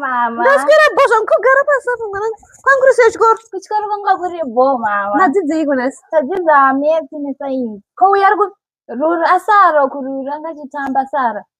mama ndaswera bho zvangu kugara pasi apo mwana kwangu risi yechikoro kuchikoro kwanga kuri bho mama madzidzeiko nasi tadzidza metsi nesainzi ko uya ari kurura asara kurura angachitamba sara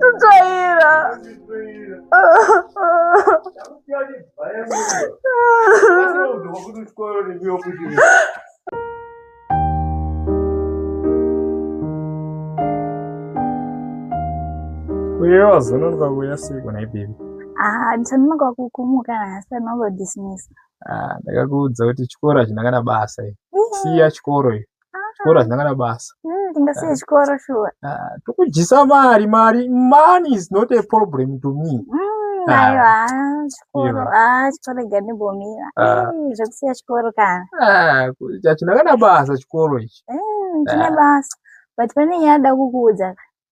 Tutaira. Uye wazononoka kuya sei kuna ibebi? Ah, ndichanonoka kukumuka nhasi anongodismisa. Ah, ndakakuudza kuti chikoro hachina kana basa iyi. Siya chikoro iyo. Chikoro hachina kana basa. Mm, ndingasiye chikoro shuwa Ah, tokudyisa mari, mari, money is not a problem to me. Mm, Ah. aiwa ah, chikoro Iva. ah, chikoro ganibomira Ah. zvekusiya chikoro kana Ah, ku- hachina kana basa chikoro ichi. Mm, chine Ah. basa but pane nyaya da kukuudza ka.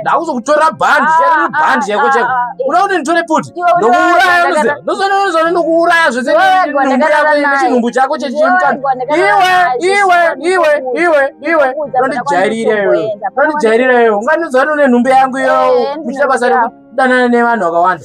ndakuzokutora bhandi ah, bhandi ah, chako chako ah, uda kuti nditore puti ndokuuraya ndozonozone ndokuuraya zvese chinhumbu chako chechimutano iwe iwe iwe iwe iwe unondijairira iwe unondijairira iwe unganizone une nhumbu yangu iyo eh, muchita basa rekudanana nevanhu vakawanda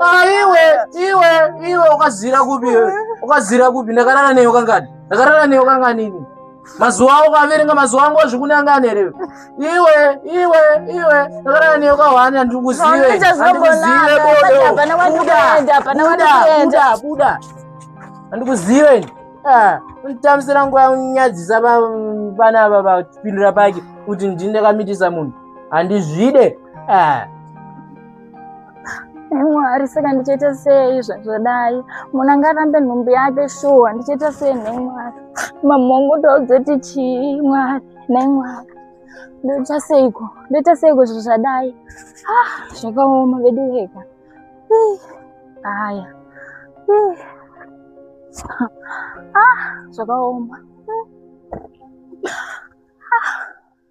Ah, iwe iwe iwe ukazira kupi iwe ukazira kupi ndakarara newe kangani ndakarara newe kanganini mazuva awo ukaverenga mazuva angu azvikunangani here iwe iwe iwe ndakarara newe kahwani handiri kuzive handikuzive bodobuda buda handikuzive ini ah, nditambisira nguva yanyadzisa pana ava vapindura pake kuti ndinekamitisa munhu handizvide ah. mwari saka ndichaita sei zvazvadai munhu anga arambe nhumbi yake shuwa ndichaita sei nhai mwari mamhongo taudzoti chii mwari nhai mwari ndoita seiko ndoita seiko zvazvadai ah, zvakaoma vedu weka haya ah, zvakaoma ah.